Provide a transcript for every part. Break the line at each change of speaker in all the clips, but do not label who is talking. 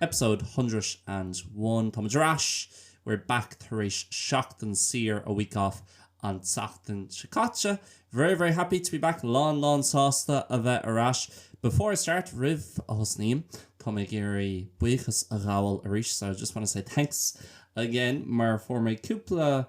Episode hundred and one, Táimid ar ais! We're back tar éis seachtain saor, a week off, an tseachtain seo caite. Very, very happy to be back, lán, lán sásta a bheith ar ais. Before I start, roimh a thosnaím, tá mé ag iarraidh buíochas a ghabháil arís, so I just want to say thanks again mar fuair mé cúpla,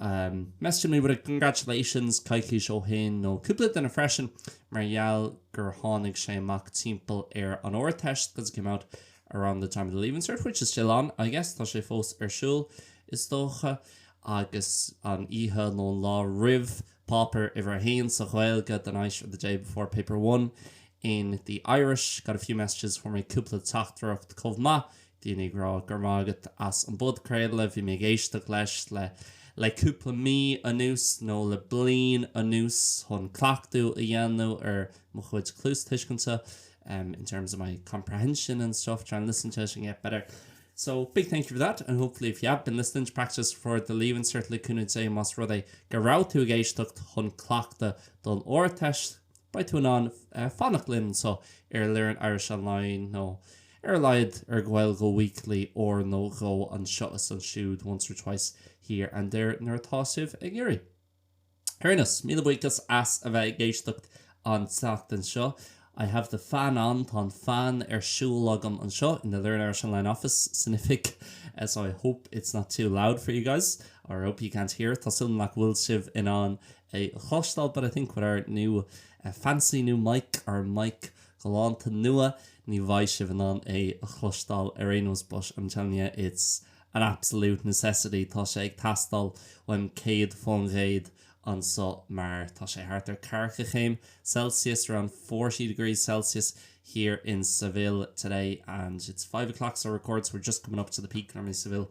messaging me with a congratulations coicís ó shin, nó cúpla duine freisin, mar gheall gur tháinig sé amach timpeall ar an Ardteist because it came out around the time of the Leaving Cert, which is still on, I guess, tá sé fós ar siúl, is dócha, agus an oíche nó an lá roimh páipéar uimhir a haon sa Ghaeilge the night or the day before paper one in the Irish. Got a few messages fuair mé cúpla teachtaireacht chomh maith daoine ag rá go raibh maith agat as an bpodchraoladh, bhí mé ag éisteacht leis le cúpla mí anuas nó le bliain anuas chun cleachtadh a dhéanamh ar mo chuid cluastuiscinte in terms of my comprehension and stuff, trying to listen to it and get better. So, big thank you for that and hopefully if you have been listening to practice for the Leaving Cert le cúnamh Dé, más rud é go raibh tú ag éisteacht chun cleachtadh don Ardteist, beidh tú in ann fanacht linn anseo ar Learn Irish Online nó Ar a laghad ar Gaeilge Weekly uair nó dhó anseo is ansiúd, once or twice here and there, nuair atá sibh ag iarraidh. Ar aon nós, míle buíochas as a bheith ag éisteacht an tseachtain seo. I have the fan on, tá an fean ar siúl agam anseo in the Learn Irish Online office san oifig so I hope it's not too loud for you guys, or I hope you can't hear it, tá súil agam nach bhfuil sibh in ann é a chloisteáil but I think with our new fancy new mic, ár mic galánta nua, ní bheidh sibh in ann é a chloisteáil ar aon nós but I'm telling you it's an absolute necessity, tá sé ag teastáil uaim céad fán gcéad anseo mar tá sé thart ar ceathracha céim Celsius, around forty degrees Celsius here in Seville today and it's five o'clock as I record so we're just coming up to the peak normally Seville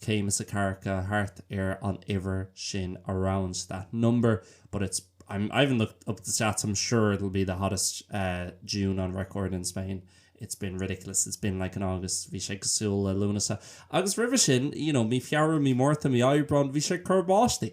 céim is ceathracha thart ar an uimhir sin around that number but it's I'm I haven't looked up the stats I'm sure it'll be the hottest uh June on record in Spain it's been ridiculous it's been like an August bhí sé cosúil le Lúnasa agus roimhe sin you know mí Feabhra mí Márta mí Aibreán bhí sé ag cur báistí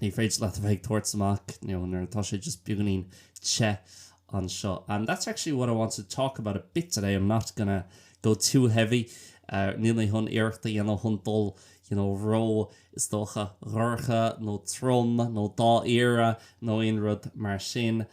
Ní féidir leat a bheith ag tabhairt amach nuair atá sé just beagáinín te anseo. And that's actually what I wanted to talk about a bit today, I'm not going to go too heavy. Níl mé chun iarracht a dhéanamh chun dul you know ró is dócha dorcha nó trom nó dáiríre nó aon rud mar sin.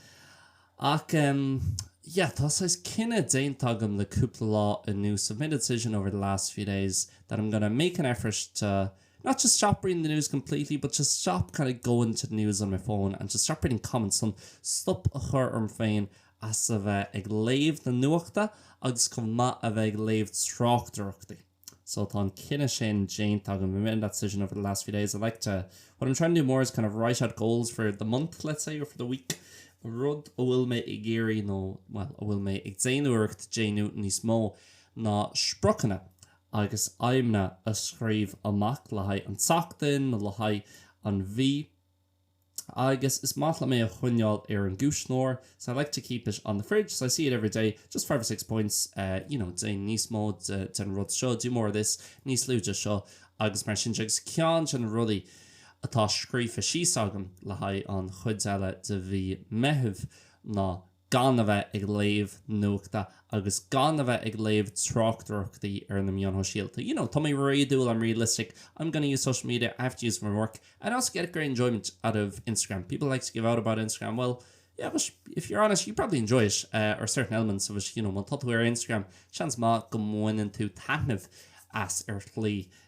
Ach em yeah tá saghas cinneadh déanta agam le cúpla lá anuas, I've made a decision over the last few days that I'm going to make an effort to Not just stop reading the news completely but just stop kind of going to the news on my phone and just stop reading comments chun stop a chur orm féin as a bheith ag léamh na nuachta agus chomh maith a bheith ag léamh tráchtaireachtaí. So tá an cinneadh sin déanta agam. I've made that decision over the last few days. I'd like to, what I'm trying to do more is kind of write out goals for the month, let's say, or for the week. Rud a bhfuil mé ag iarraidh nó, well, a bhfuil mé ag déanamh iarracht déanamh níos mó ná spriocanna. agus aidhmeanna a scríobh amach le haghaidh an tseachtain nó le haghaidh an mhí agus is maith liom é a choinneáil ar an gcuisneoir so I like to keep it on the fridge so I see it every day just five or six points you know déan níos mó den rud seo do more of this níos lú de seo agus mar sin de agus ceann de na rudaí atá scríofa síos agam le haghaidh an chuid eile de mhí Meithimh ná gan a bheith ag léamh nuachta agus gan a bheith ag léamh tráchtaireachtaí ar na meáin shóisialta. You know, tá mé réadúil, I'm realistic, I'm gonna use social media, I have to use it for my work, and I also get a great enjoyment out of Instagram. People like to give out about Instagram, well, yeah, but if you're honest, you probably enjoy it, uh, or certain elements of it, you know, má tá tú ar Instagram, seans maith go mbaineann tú taitneamh as ar shlí.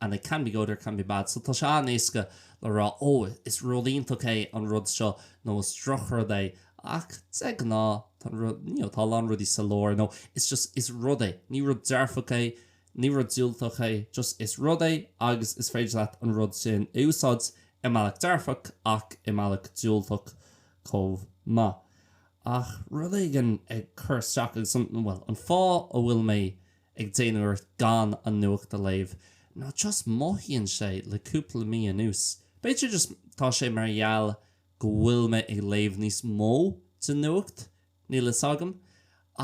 and it can be good or can be bad. So tá sé an-éasca le rá, ó, is rud iontach é an rud seo nó is drochrud é. Ach de ghnáth, tá an rud, you know, tá a lán rudaí sa lár nó it's just, is rud é. Ní rud dearfach é, ní rud diúltach é, just is rud é agus is féidir leat an rud sin a úsáid i mbealach dearfach ach i mbealach diúltach chomh maith. Ach rud éigin ag cur isteach agus an, bhuel, an fáth a bhfuil mé ag déanamh iarracht gan an nuacht a léamh nó just mothaíonn sé le cúpla mí anuas, b'fhéidir just tá sé mar gheall go bhfuil mé ag léamh níos mó den nuacht, níl a fhios agam,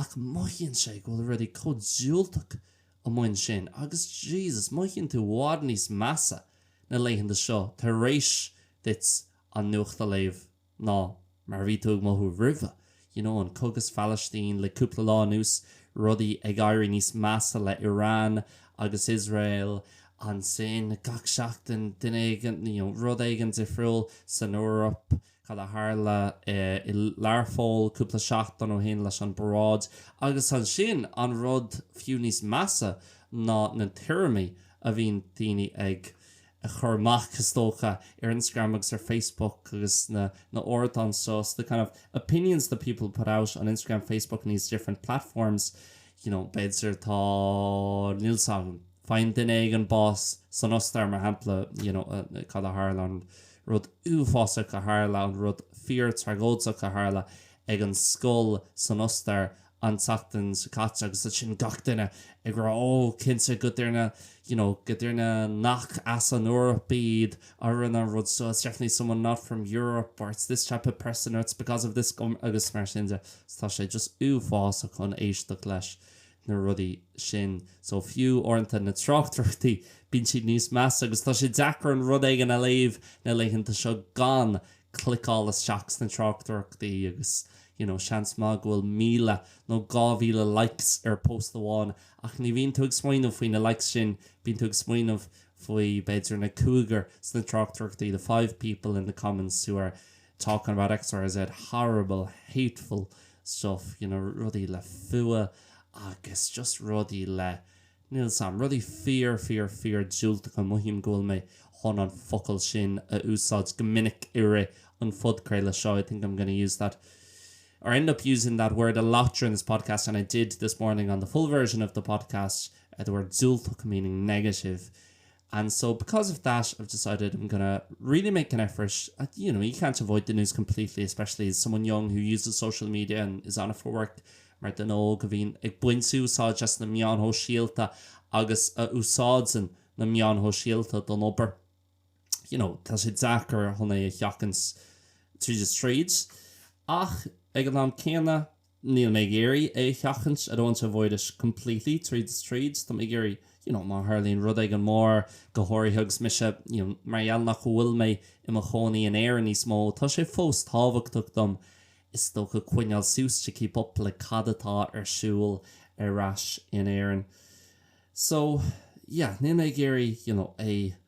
ach mothaíonn sé go bhfuil rudaí chomh diúltach amuigh ansin agus Jesus, mothaíonn tú i bhfad níos measa na laethanta seo tar éis duit an nuacht a léamh. ná mar a bhí tú ag mothú roimhe. You know, an cogadh sa Phalaistín, le cúpla lá anuas, rudaí ag éirí níos measa le Iran agus Iosrael. Ansin, gach seachtain, duine éigin, you know, rud éigin difriúil san Eoraip, cad a tharla i Learpholl cúpla seachtain ó shin leis an bparáid. Agus ansin, an rud fiú níos measa ná na tuairimí a bhíonn daoine ag. a chur amach, is dócha, ar Instagram agus ar Facebook agus na hardáin seo, so the kind of opinions that people put out on Instagram, Facebook and these different platforms, you know, b'fhéidir tá níl 's agam, faigheann duine éigin bás san Ostair, mar shampla, you know, cad a tharla, an rud uafásach a tharla, an rud fíor-thragóideach a tharla ag an scoil san Ostair an tseachtain seo caite agus ansin gach duine ag rá ó cinnte go duine you know go duine nach as an Eoraip iad a rinne an rud seo it's definitely someone not from Europe or it's this type of person or it's because of this government agus mar sin de so tá sé just uafásach chun éisteacht leis na rudaí sin so fiú uaireanta na tráchtaireachtaí bíonn siad níos measa agus tá sé deacair aon rud a léamh na laethanta seo gan cliceáil isteach sna tráchtaireachtaí agus you know seans maith go bhfuil 1,000 nó 2,000 likes ar post amháin ach ní bhíonn tú ag smaoineamh faoi na likes sin, bíonn tú ag smaoineamh faoi b'fhéidir na cúigear sna tráchtaireachtaí, the five people in the comments who are talking about X, Y, Z, horrible, hateful stuff, you know rudaí le fuath agus just rudaí le. Níl 's agam. Rudaí fíor, fíor, fíor diúltacha. Mothaím go bhfuil mé chun an focal sin a úsáid go minic i rith an phodchraolta seo, I think I'm going to use that, or end up using that word a lot during this podcast, and I did this morning on the full version of the podcast, the word diúltach meaning negative. And so because of that I've decided I'm gonna really make an effort, you know, you can't avoid the news completely especially as someone young who uses social media and is on it for work, mar duine óg a bhíonn ag baint úsáid as na meáin shóisialta agus a úsáideann na meáin shóisialta don obair, you know, tá sé deacair chun é a sheachaint tríd is tríd. Ach ag an am céanna Níl mé ag iarraidh é a sheachaint, I don't want to avoid it completely, tríd is tríd, tá mé ag iarraidh, you know, má tharlaíonn rud éigin mór, go háirithe agus mise, you know, mar gheall nach bhfuil mé i mo chónaí in Éirinn níos mó, tá sé fós tábhachtach dom, is dócha, coinneáil suas, to keep up, le cad atá ar siúl ar ais in Éirinn. So, yeah, níl mé ag iarraidh, you know, é a.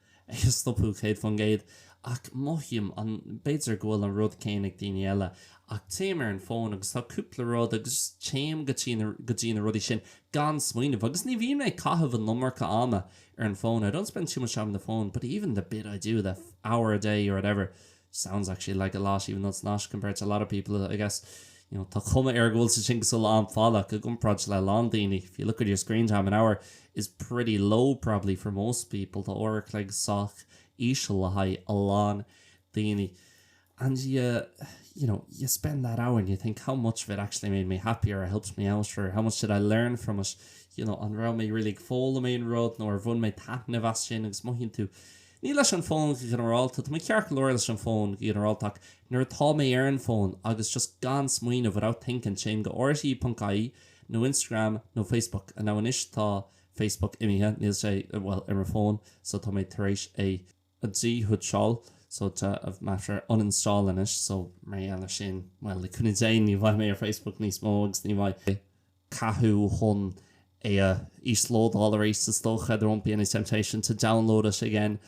stopadh céad faoin gcéad, ach mothaím an, b'fhéidir go bhfuil an rud céanna ag daoine eile, ach téim ar an fón agus tá cúpla rud agus just téim go dtí na, go dtí na rudaí sin gan smaoineamh agus ní bhíonn mé ag caitheamh an iomarca ama ar an fón, I don't spend too much time on the phone but even the bit I do, that hour a day or whatever. sounds actually like a lot even though it's not compared to a lot of people I guess you know tá cuma air go bhfuil sé sin an-fhada i gcomparáid le a lán daoine if you look at your screen time an hour is pretty low probably for most people tá uair an chloig sách íseal le haghaidh a lán daoine and you you know you spend that hour and you think how much of it actually made me happy or helped me out or how much did I learn from it you know an raibh mé really ag foghlaim aon rud nó ar bhain mé taitneamh as sin agus mothaíonn tú Ní leis an bhfón go ginearálta, tá mé ceart go leor leis an bhfón go ginearálta ach nuair atá mé ar an bhfón agus just gan smaoineamh, without thinking, téim go rte.ie nó Instagram nó Facebook, now anois tá Facebook imithe, níl sé, bhuel, ar an fón so tá mé tar éis é a dhíshuiteáil, so tá mé tar éis uninstalling it, so mar gheall ar sin, bhuel, le cúnamh Dé ní bheidh mé ar Facebook níos mó agus ní bheidh. cathú chun é a íoslódáil arís, is dócha, there won't be any temptation to download it again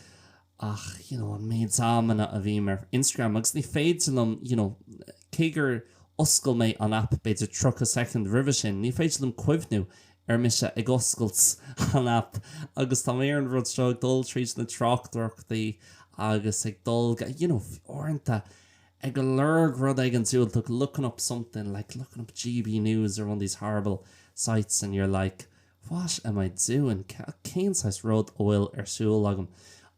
ach you know an méid amanna a bhím ar Instagram agus ní féidir liom you know cé gur oscail mé an aip b'fhéidir 30 soicind roimhe sin, ní féidir liom cuimhniú ar mise ag oscailt an aip agus tá mé ar an rud seo ag dul tríd na tráchtaireachtaí agus ag dul you know uaireanta ag lorg rud éigin diúltach looking up something like looking up GB news or one of these horrible sites and you're like what am I doing cé cén saghas rud atá ar siúl agam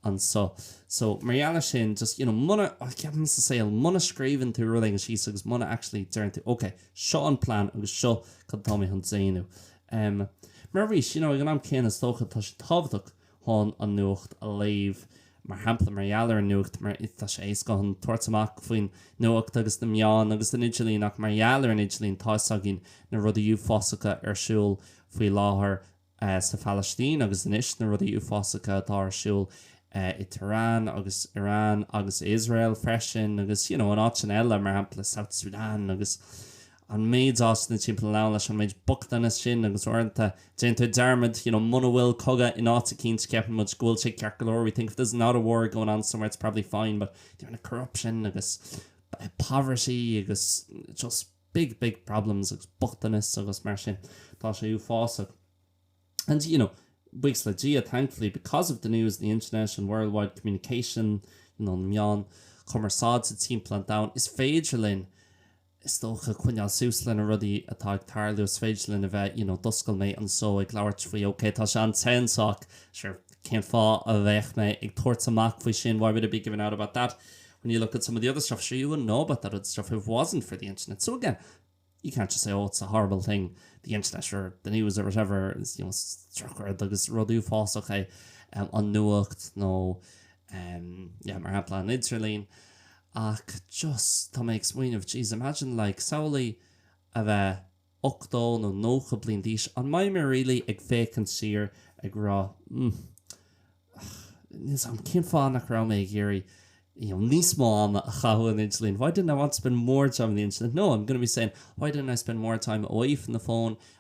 anseo so mar gheall ar sin just you know muna oh, ceapaim sa saol muna scríobhann tú rud éigin síos agus muna actually deireann tú ok seo an plan agus seo cad tá mé chun déanamh um, mar arís you know ag an am céanna is dócha tá sé tábhachtach chun an nuacht a léamh. Mar shampla, mar gheall ar an nuacht, mar, tá sé éasca chun tabhairt amach faoin nuacht agus na meáin agus an idirlíon ach mar gheall ar an idirlíon, tá fhios againn na rudaí uafásacha ar siúl faoi láthair sa Phalaistín agus anois na rudaí uafásacha atá ar siúl i Tehran agus Iran agus Iosrael freisin agus you know in áiteanna eile, mar shampla South Sudan agus. an méid áiteanna timpeall an domhain leis an méid bochtaine sin agus uaireanta déantar dearmad, you know, muna bhfuil cogadh in áit eicínt ceapann muid go bhfuil sé ceart go leor, we think if there's not a war going on somewhere it's probably fine but the amount of corruption agus poverty agus just big big problems agus bochtanas agus mar sin tá sé uafásach and you know buíochas le Dia thankfully because of the news and the internet and worldwide communication you know na meáin chumarsáide timpeall an domhain is féidir linn is dócha, coinneáil suas le na rudaí atá ag tarlú, is féidir linn a bheith, you know, d'oscail mé an seó ag labhairt faoi, okay, tá sé an-te anseo, sure, cén fáth a bheadh mé ag tabhairt amach faoi sin, why would I be giving out about that when you look at some of the other stuff, sure, you wouldn't know about that other stuff if it wasn't for the internet. So again, you can't just say, oh, it's a horrible thing, the internet or the news or whatever, is, you know, structured agus rud uafásach é um, an nuacht nó, no, um, yeah, mar shampla an idirlín, Ach just, tá mé ag smaoineamh, jeez, imagine like samhlaigh a bheith 80 nó 90 bliain d'aois, an mbeidh mé really ag féachaint siar ag rá, mm, ach níl 's a'm cén fáth nach raibh mé ag iarraidh, you know, níos mó ama a chaitheamh ar an idirlíon, why didn't I want to spend more time in the internet? No, I'm going to be saying, why didn't I spend more time away from the phone,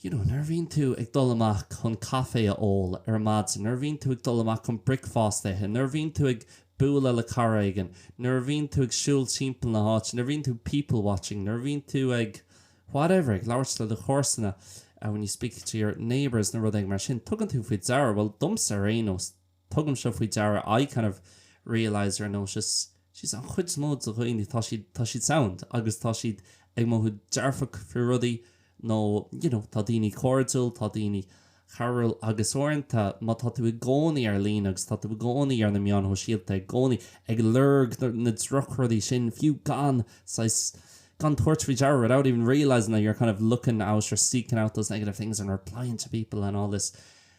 You know, nuair a bhíonn tú ag dul amach chun caifé a ól ar maidin, nuair a bhíonn tú ag dul amach chun bricfeasta a ithe, nuair a bhíonn tú ag bualadh le cara éigin, nuair a bhíonn tú ag siúl timpeall na háite, nuair a bhíonn tú people-watching, nuair a bhíonn tú ag whatever, ag labhairt le do chomharsana, when you speak to your neighbours, nó rud éigin mar sin, tugann tú faoi deara, bhuel, domsa ar aon nós, tugaim seo faoi deara, I kind of realise or notice geez an chuid is mó de dhaoine, tá siad, tá siad sound agus tá siad ag mothú dearfach faoi rudaí nó you know tá daoine cairdiúil, tá daoine cabhrúil agus uaireanta má tá tú i gcónaí ar líne agus tá tú i gcónaí ar na meáin shóisialta i gcónaí ag lorg na drochrudaí sin fiú gan saghas, gan tabhairt faoi deara, without even realising that you're kind of looking out or seeking out those negative things and replying to people and all this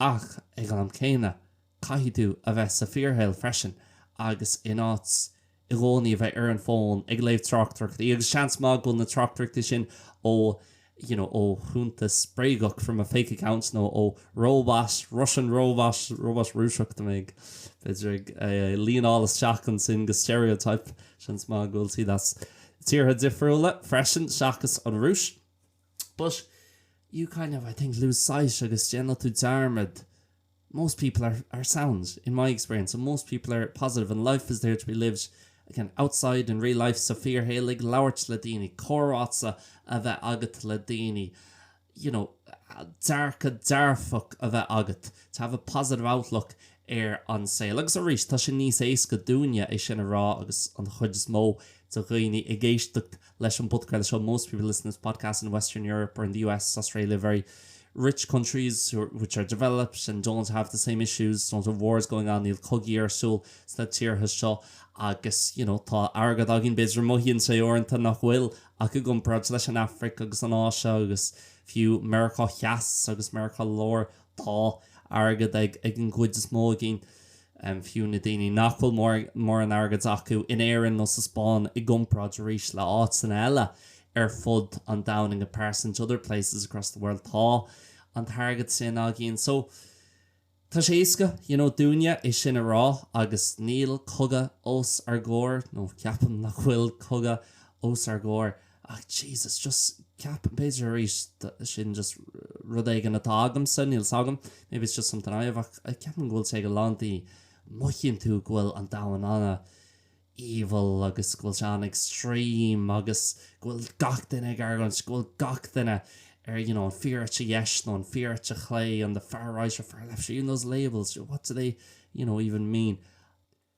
Ach ag an am céanna, caithfidh tú a bheith sa fíorshaol freisin agus in áit i gcónaí a bheith ar an bhfón ag léamh tráchtaireachtaí agus seans maith go bhfuil na tráchtaireachtaí sin ó you know ó chuntas bréagach from a fake account nó ó róbait Russian robots róbait Rúiseacha tá mé ag b'fhéidir ag leanáil isteach ansin go stereotype seans maith go bhfuil siad as tíortha difriúla freisin seachas an Rúis. But you kind of, I think, lose sight agus déanann tú dearmad most people are are sound, in my experience, and most people are positive and life is there to be lived, again, outside, in real life, sa fíorshaol, ag labhairt le daoine, comhráite a bheith agat le daoine, you know, dearcadh dearfach a bheith agat, to have a positive outlook ar an saol. Agus arís, tá sin níos éasca dúinne é sin a rá agus an chuid is mó de dhaoine ag éisteacht leis an bpodcraol seo Most people listen to this podcast are in Western Europe or in the US, Australia, very rich countries which are developed and don't have the same issues, don't have wars going on, níl cogaí ar siúl sna tíortha seo agus, you know, tá airgead againn, b'fhéidir, mothaíonn sé uaireanta nach bhfuil ach i gcomparáid leis an Afraic agus an Áise agus fiú Meiriceá Theas agus Meiriceá Láir Tá airgead ag an gcuid is mó againn, fiú na daoine nach bhfuil mórán airgid acu, in Éirinn nó sa Spáinn i gcomparáid arís le áiteanna eile ar fud an domhain, in comparison to other places across the world. Tá an t-airgead sin againn. So, tá sé éasca, you know, dúinne é sin a rá agus níl cogadh os ár gcomhair, nó ceapaim nach bhfuil cogadh os ár gcomhair. Ach Jesus, just ceapaim, b'fhéidir arís, sin just rud éigin atá agamsa, níl 's agam, maybe it's just something I have, ach ceapaim go bhfuil sé ag a lán daoine, mothaíonn tú go bhfuil an domhan an-evil agus go bhfuil sé an-extreme agus go bhfuil gach duine ag argóint, go bhfuil gach duine ar you know, an fíor eite dheis nó an fíor eite chlé, an the far right or far left, even those labels, what do they you know, even mean?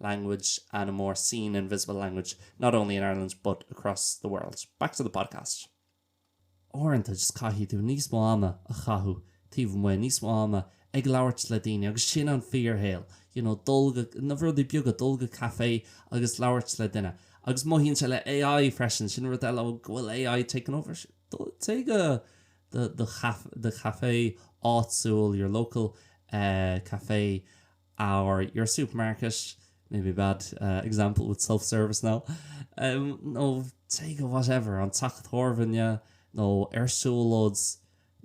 language and a more seen and visible language, not only in Ireland but across the world. Back to the podcast. Uaireanta just caithfidh tú níos mó ama a chaitheamh taobh amuigh, níos mó ama ag labhairt le daoine agus sin an fíorshaol. You know, dul go, na rudaí beaga, dul go café agus labhairt le duine. Agus mothaíonn sé le AI freisin, sin rud eile, oh, go bhfuil AI taking over. Téigh go do, do, do café áitiúil, your local uh, café, or your supermarket, maybe a bad example with self service now, nó téigh go whatever, an teach tábhairne, nó ar siúlóid,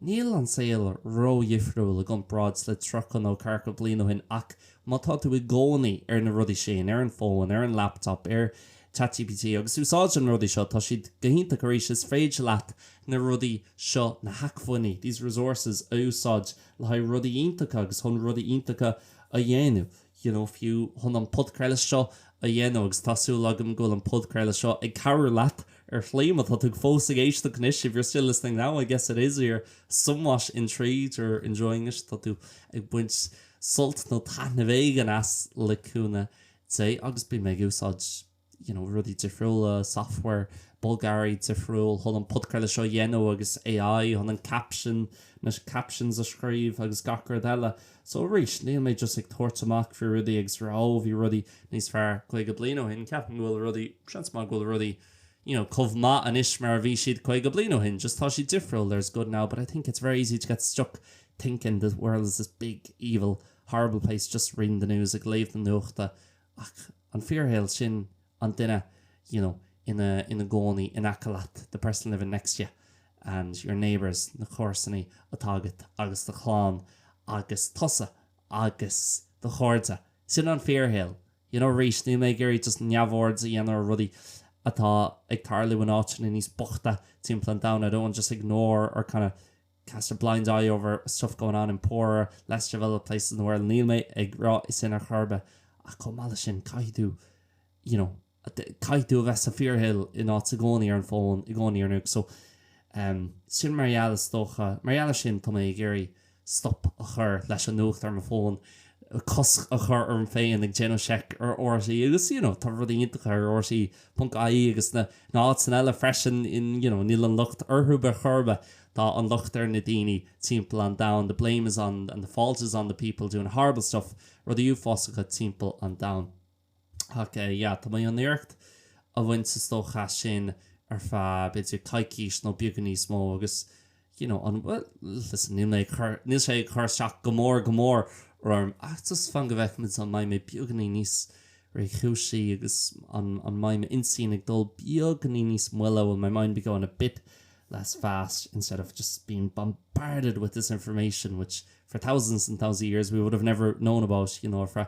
níl an saol ró-dhifriúil i gcomparáid le tríocha nó ceathracha bliain ó shin ach má tá tú i gcónaí ar na rudaí sin, ar an bhfón, ar an laptop, ar chatgpt agus úsáid na rudaí seo, tá siad go hiontach arís, is féidir leat na rudaí seo, na hacmhainní, these resources, a úsáid le haghaidh rudaí iontacha agus chun rudaí iontacha a dhéanamh you know fiú chun an podchraoladh seo a dhéanamh agus tá súil agam go bhfuil an podchraoladh seo ag cabhrú leat ar shlí éigin má tá tú fós ag éisteacht anois if you're still listening now I guess it is you're somewhat intrigued or enjoying it tá tú ag baint sult nó taitneamh éigin as le cúnamh Dé agus bím ag úsáid you know, rudaí difriúla, software, bogearraí difriúil chun an podchraoladh seo a dhéanamh agus AI chun an caption, na captions a scríobh agus gach rud eile. So arís, níl mé just ag tabhairt amach faoi rudaí agus rá oh, bhí rudaí níos fearr 50 bliain ó shin. Ceapaim go bhfuil rudaí, seans maith go bhfuil rudaí you know, chomh maith anois mar a bhí siad 50 bliain ó shin, just tá sé difriúil, there's good now, but I think it's very easy to get stuck thinking the world is this big, evil, horrible place, just reading the news, ag léamh na nuachta Ach an fíorshaol, sin an duine you know ina ina gcónaí in aice leat, the person living next to you and your neighbours, na comharsanaí atá agat agus do chlann agus tusa agus do chairde. Sin an fíorshaol. You know arís, níl mé ag iarraidh just neamhaird a dhéanamh ar rudaí atá ag tarlú in áiteanna níos bochta timpeall an domhain, I don't want to just ignore or kind of cast a blind eye over stuff going on in poorer, less developed places in the world. Níl mé ag rá sin ar chor ar bith, ach chomh maith leis sin, caithfidh tú, you know, caithfidh tú a bheith sa fíorshaol in áit i gcónaí ar an bhfón, i gcónaí ar nuacht. So, em, sin mar gheall is dócha, mar gheall ar sin, tá mé ag iarraidh stop a chur leis an nuacht ar mo fón. cosc a chur orm féin ag déanamh seic ar RTÉ agus you know tá rudaí iontacha ar rte ponc ie agus na háiteanna eile freisin in you know níl an locht orthu ar chor ar bith, tá an locht ar na daoine timpeall an domhain, the blame is on and the fault is on the people doing horrible stuff, rudaí uafásacha timpeall an domhain. Ach yeah, tá mé chun iarracht a bhaint sa stoc as sin ar feadh b'fhéidir coicís nó beagán níos mó agus you know, an bhfuil, listen, níl mé ag cur, níl sé ag cur isteach go mór, go mór orm ach just fan go bhfeicfimid an mbeidh mé beagainín níos réchúisí agus an, an mbeidh m'intinn ag dul beagainín níos moille, will my mind be going a bit less fast instead of just being bombarded with this information which for thousands and thousands of years we would have never known about, you know, ar feadh.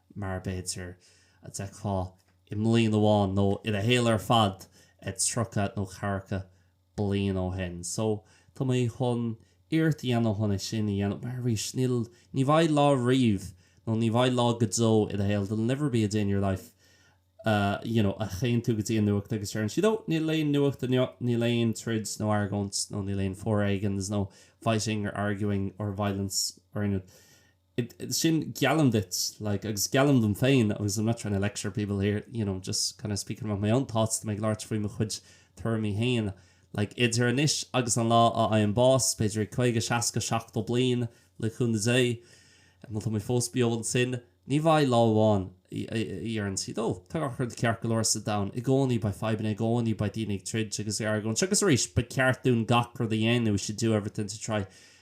mar b'fhéidir a d'fheicfeá i mbliain amháin, nó i do shaol ar fad, tríocha nó ceathracha bliain ó shin. So, tá mé chun iarracht a dhéanamh chun é sin a dhéanamh, mar arís, níl, ní bheidh lá riamh, nó ní bheidh lá go deo i do shaol, there'll never be a day in your life, you know, a théann tú go dtí an nuacht agus deireann siad, oh, níl aon nuacht inniu, níl aon troid nó argóint, nó níl aon foréigean, there's no fighting or arguing or violence or anything. sin, geallaim duit, like, agus geallaim dom féin, agus I'm not trying to lecture people here, you know, just kind of speaking about my own thoughts, tá mé ag labhairt faoi mo chuid tuairimí féin, like, idir anois agus an lá a fhaighim bás, b'fhéidir i caoga, seasca, seachtó bliain, le cúnamh Dé, má tá mé fós beo ansin, ní bheidh lá amháin a dheireann siad, oh, tá gach rud ceart go leor sa domhan, i gcónaí beidh fadhbanna, i gcónaí beidh daoine ag troid agus ag argóint, agus arís, ba cheart dúinn gach rud a dhéanamh, we should do everything to try,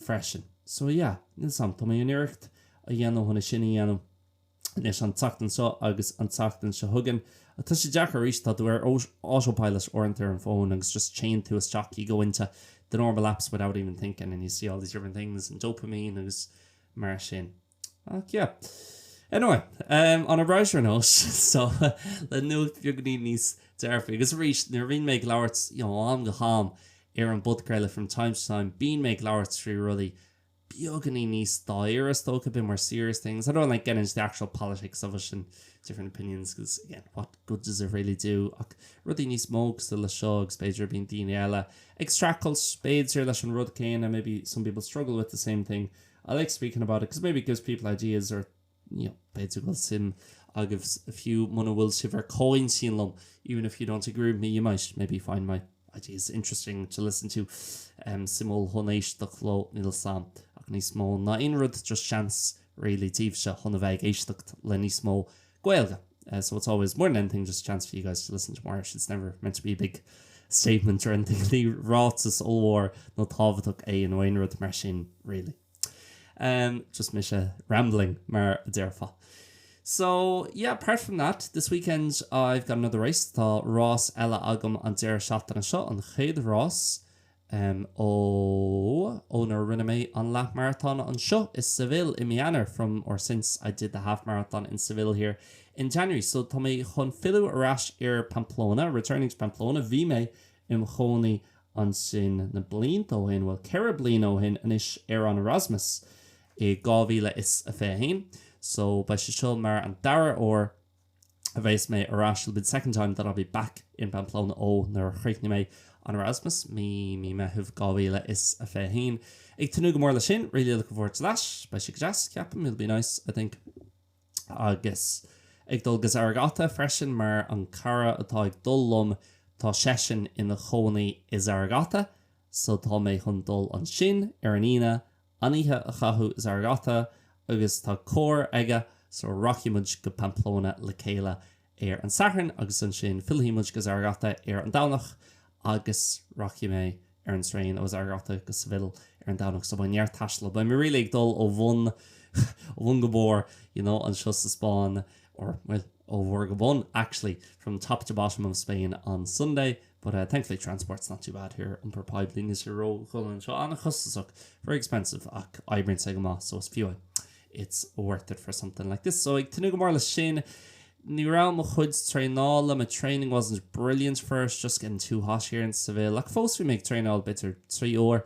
freisin. So yeah, níl a fhios agam, tá mé chun iarracht a dhéanamh chun é sin a dhéanamh anois an tseachtain seo agus an tseachtain seo chugainn. Ach tá sé deacair, arís, tá tú ar autopilot uaireanta ar an bhfón agus just téann tú isteach, you go into the normal apps without even thinking and you see all these different things and dopamine agus mar sin. Ach yeah. Anyway, on a brighter note, so, le nuacht beagainín níos dearfaí, agus arís, nuair a bhíonn mé ag labhairt, you know, am go ham ar an bpodchraoladh from time to time, bíonn mé ag labhairt faoi rudaí beagainín níos dáiríre, I talk about more serious things. I don't like getting into the actual politics of it and different opinions because, again, what good does it really do? Ach rudaí níos mó cosúil le seo agus b'fhéidir a bhíonn daoine eile ag streachailt, b'fhéidir, leis an rud céanna, maybe some people struggle with the same thing, I like speaking about it because maybe it gives people ideas or you know, b'fhéidir go bhfuil suim agaibhse fiú muna bhfuil sibh ar comhintinn liom, even if you don't agree with me, you might maybe find my ideas interesting to listen to. Um, suimiúil chun éisteacht leo, níl a fhios agam, ach níos mó ná aon rud, just seans really daoibhse chun a bheith ag éisteacht le níos mó Gaeilge. So it's always, more than anything, just a chance for you guys to listen to more Irish. It's never meant to be a big statement or anything. Ní ráiteas ollmhór nó tábhachtach é nó aon rud mar sin, really. Um, just mise rambling mar a déarfá. So yeah, apart from that, this weekend I've got another race tá rás eile agam an deireadh seachtaine seo an chéad rás Em, ó, ó nuair a rinne mé an leath-mharatón anseo i Seville i mí Eanáir, from or since I did the half marathon in Seville here in January, so tá mé chun filleadh ar ais ar Pamplona, returning to Pamplona, bhí mé im' chónaí ansin na blianta ó shin, bhuel, ceithre bliana ó shin anois ar an Erasmus i 2021, so beidh sé seo mar an dara uair a bheas mé ar ais, it'll be the second time that I'll be back in Pamplona ó nuair a chríochnaigh mé an Erasmus mí mí Meitheamh 2021. Ag tnúth go mór le sin, really looking forward to that. Beidh sé go deas, ceapaim, it'll be nice, I think. Agus ag dul go Zaragoza freisin mar an cara atá ag dul liom tá seisean ina chónaí i Zaragoza, so tá mé chun dul ansin ar an Aoine An oíche a chaitheamh i Zaragoza agus tá carr aige, so rachaidh muid go Pamplona le chéile ar an Satharn agus ansin fillfidh muid go Zaragoza ar an Domhnach agus rachaidh mé ar an traein ó Zaragoza go Seville ar an Domhnach so beidh neart taistil, beidh mé really ag dul ó bhun ó bhun go barr you know anseo sa Spáinn or bhuel ó bharr go bun actually from top to bottom of Spain on Sunday. But uh thankfully transport's not too bad here, iompar poiblí níl sé ródhona anseo, an-chostasach, very expensive, ach oibríonn sé go maith so is fiú é, it's worth it for something like this. So ag tnúth go mór leis sin. Ní raibh mo chuid traenála, my training wasn't brilliant for it's, just getting too hot here in Seville, ach fós bhí mé ag traenáil b'fhéidir trí uair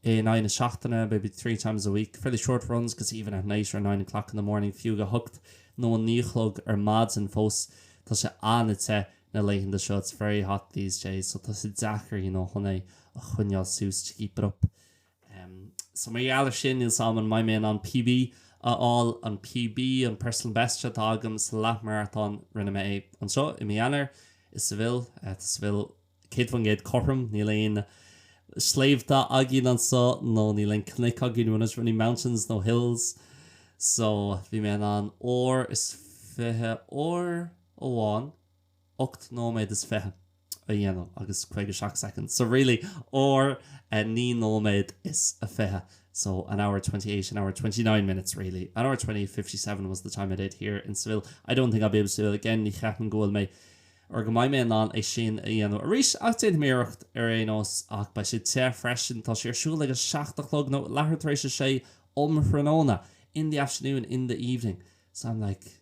in aghaidh na seachtaine, maybe three times a week, fairly short runs because even at night or nine o'clock in the morning, fiú ag a hocht nó a naoi a chlog ar maidin fós tá sé an-te. na laethanta seo it's very hot these days so tá sé deacair you know chun é a choinneáil suas to keep it up em so mar gheall ar sin níl a fhios agam an mbeidh mé in ann PB a fháil an PB an personal best seo atá agam sa leath marathon rinne mé é anseo i mí Eanáir i Seville eh tá Seville 100% cothrom níl aon sléibhte againn anseo nó níl aon cnoic againn we've not any mountains no hills so bhí mé in ann uair is fiche uair amháin ocht nóiméad is fiche a dhéanamh agus caoga seacht soicind. So really uair agus naoi nóiméad is a fiche. So an hour twenty eight, an hour twenty nine minutes really. An hour twenty eight fifty seven was the time I did here in Seville. I don't think I'll be able to do it again. Ní cheapaim go bhfuil mé or go mbeidh mé in ann é sin a dhéanamh arís ach déanfaidh mé iarracht ar aon nós ach beidh sé te freisin. Tá sé ar siúl ag a seacht a chlog nó leathuair tar éis a sé um thráthnóna in the afternoon, in the evening. So I'm like.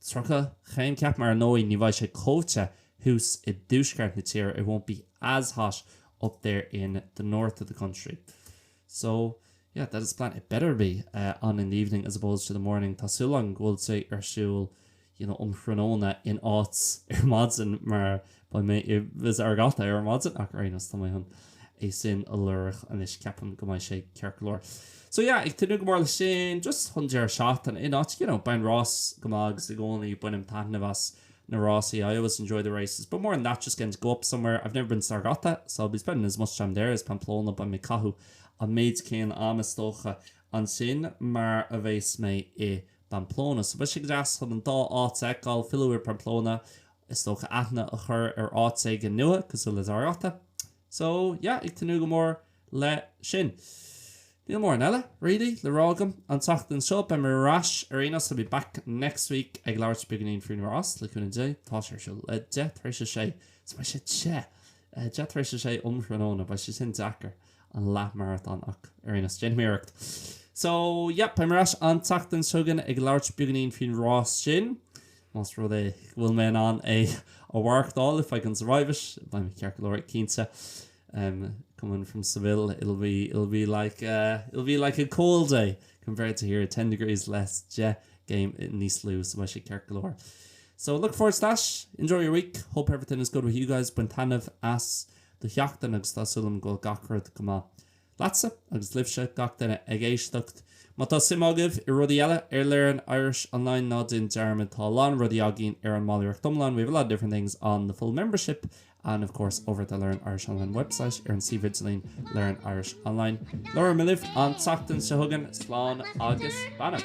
30 céim ceapaim mar ar ndóigh ní bheidh sé chomh te thuas i dtuaisceart na tíre, it won't be as hot up there in the north of the country. So, yeah, that is the plan. It's better being on in the evening as opposed to the morning. Tá súil agam go bhfuil sé ar siúl, you know, um thráthnóna in áit ar maidin mar Beidh mé i Zaragoza ar maidin ach ar aon nós tá mé chun é sin a lorg anois, ceapaim go mbeidh sé ceart go leor. So yeah, ag tnúth go mór leis sin, just chun deireadh seachtaine in áit nua, you know, beidh an rás go maith agus i gcónaí bainim taitneamh as na rásaí, I always enjoy the races, but more than that just getting to go up somewhere, I've never been to Zaragoza so I'll be spending as much time there as Pamplona, beidh mé ag caitheadh an méid céanna ama is dócha ansin mar a bheas mé i bPamplona. So beidh sé go deas chun an dá áit a fheiceáil, filleadh ar Pamplona Is dócha aithne a chur ar áit éigin nua, cosúil le Zaragoza. So, yeah, ag tnúth go mór le sin. Níl móran eile, really, le rá agam an tseachtain seo. Beidh mé ar ais ar aon nós, I'll be back next week, ag labhairt beagainín faoin rás, le cúnamh Dé. Tá sé ar siúl ag deich tar éis a sé. So beidh sé te! Eh, deich tar éis a sé um thráthnóna, beidh sé sin deacair, an leathmarathon, ach ar aon nós, déanfaidh mé iarracht. So, yeah, beidh mé ar ais an tseachtain seo chugainn ag labhairt beagainín faoin rás sin. Más rud é go bhfuil mé in ann é a mhaireachtáil, if I can survive it, beidh mé ceart go leor, cinnte. em, coming from Seville, it'll be, it'll be like eh, it'll be like a cold day compared to here, ten degrees less, deich gcéim níos lú, so beidh sé ceart go leor. So, look forward to that. Enjoy your week. Hope everything is good with you guys. Bain taitneamh as do sheachtain agus tá súil agam go bhfuil gach rud go maith. leatsa agus libhse, gach duine ag éisteacht. Má tá suim agaibh i rudaí eile ar Learn Irish Online, ná déan dearmad, tá a lán rudaí againn ar an mballraíocht iomlán we have a lot of different things on the full membership and, of course, over at the Learn Irish Online website ar an suíomh idirlín Learn Irish Online. Labhróidh mé libh an tseachtain seo chugainn. Slán agus beannacht.